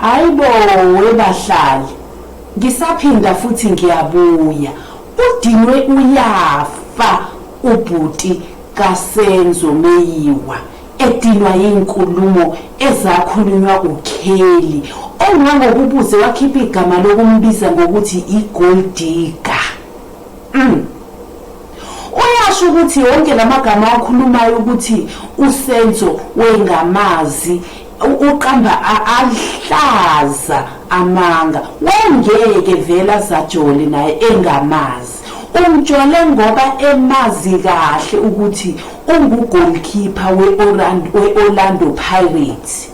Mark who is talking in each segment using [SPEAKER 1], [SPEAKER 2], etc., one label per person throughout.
[SPEAKER 1] Hayi bo webahlali. Ngisaphinda futhi ngiyabuya. Udinwe uyafa ubhuti kaSenzo Meyiwa edinwa yinkulumo ezakhulunywa uKelly ongangokubuze wakhipha igama lokumbiza ngokuthi iGold Digger. Mm. Uyasho ukuthi wonke lamagama awakhulumayo ukuthi uSenzo wengamazi uqamba ahlaza amanga wengeke vela zajole naye engamazi umjole ngoba emazi kahle ukuthi ungu goalkeeper we Orlando Pirates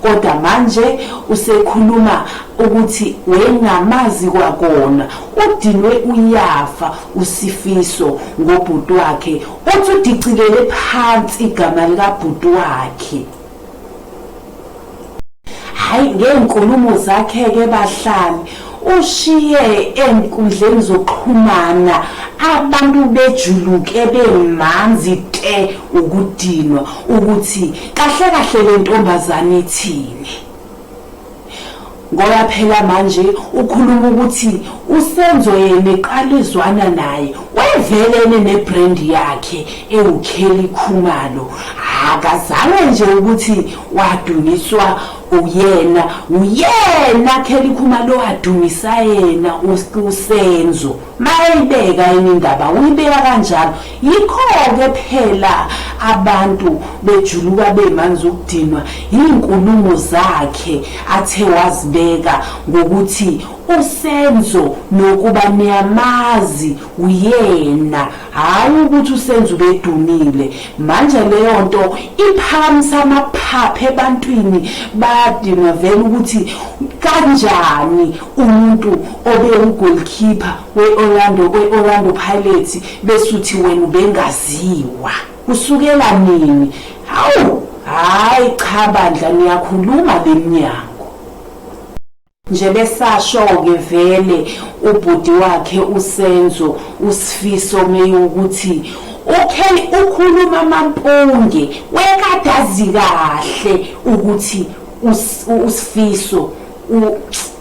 [SPEAKER 1] kodwa manje usekhuluma ukuthi wayengamazi kwakona udinwe uyafa usifiso ngobhuti wakhe uthi udicilele phansi igama likabhuti wakhe hayi ngeenkulumo zakhe-ke bahlali Ushiye enkundleni zokuxhumana abantu bejuluke bemanzi te ukudinwa ukuthi kahle kahle le ntombazane ithini ngoba phela manje ukhuluma ukuthi usenzo yena eqala ezwana naye wevelene nebrendi yakhe ewukheli khumalo akazange nje ukuthi wadunyiswa Uyena uyena Kelly Khuma lo adumisa yena uSenzo mayibeka indaba uyibeka kanjalo yikho ke phela abantu bejuluka bemanzi ukudinwa izinkulumo zakhe athe wazibeka ngokuthi uSenzo nokuba niyamazi uyena Hhayi ukuthi uSenzo ubedumile. Manje leyo nto iphakamisa amaphapha ebantwini bayadinwa vele ukuthi kanjani umuntu obewugoalkeeper we-Orlando kwe-Orlando Pirates besuthi wena ubengaziwa. Kusukela nini? Hawu, hhayi cha bandla niyakhuluma le mnyango. Nje besashoke vele ubhuti wakhe uSenzo uSfiso meyukuthi ukhe ukhuluma amampunge wekadazi kahle ukuthi uSfiso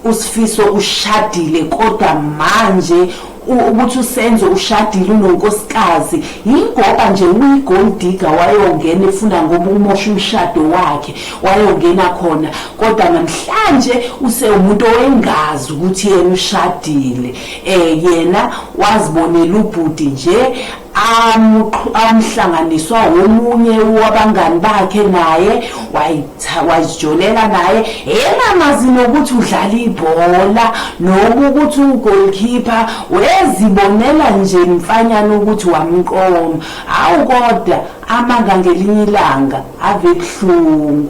[SPEAKER 1] uSfiso ushadile kodwa manje ukuthi usenzo ushadile unonkosikazi yingoba nje uyi-gold digger wayongena efuna ngoba umosha umshado wakhe wayongena khona kodwa namhlanje usewumuntu owengazi ukuthi yena ushadile um yena wazibonela ubhuti nje amuqhu amhlanganiswa womunye wabangani bakhe naye wayitha wazijolela naye engamazi nokuthi udlala ibhola noku ukuthi ugoalkeeper wezibonela nje mfanyana ukuthi wamqoma awu kodwa amanga ngelinye ilanga ave buhlungu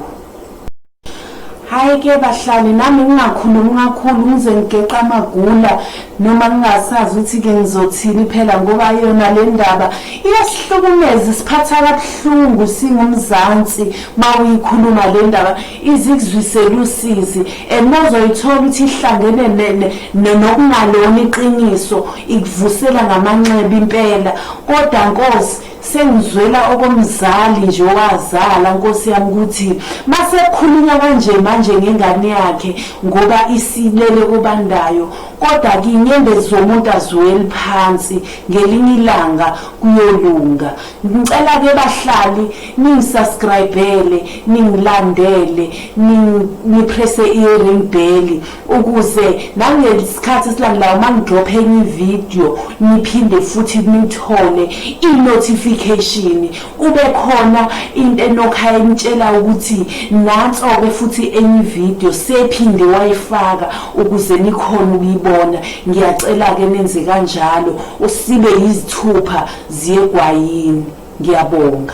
[SPEAKER 1] Hayi ke bahlali nami ngingakhulumi kakhulu ngize ngigeqa amagula noma ngingasazi ukuthi ke ngizothini phela ngoba yona le ndaba iyasihlukumeza isiphatha kabuhlungu singumzansi uma uyikhuluma le ndaba izikuzwisela usizi and mazoyithola ukuthi ihlangene nokungalona iqiniso ikuvusela ngamanxeba impela kodwa nkosi Sengizwela okomzali nje owazala nkosi yami ukuthi masekhulunywa kanje manje ngengane yakhe ngoba isilele kobandayo kodwa ke inyembezi zomuntu aziweli phansi ngelinye ilanga kuyolunga ngicela ke bahlali ningisubscribele ningilandele nipresse i-ring belly ukuze nangesikhathi esilandelayo uma ngidropha enye ividiyo niphinde futhi nithole i-notification kube khona into enokhaya enitshela ukuthi nanso-ke futhi enye ividiyo sephinde wayifaka ukuze nikhona ukuyibona ngiyacela-ke nenze kanjalo usibe yizithupha ziyegwayini ngiyabonga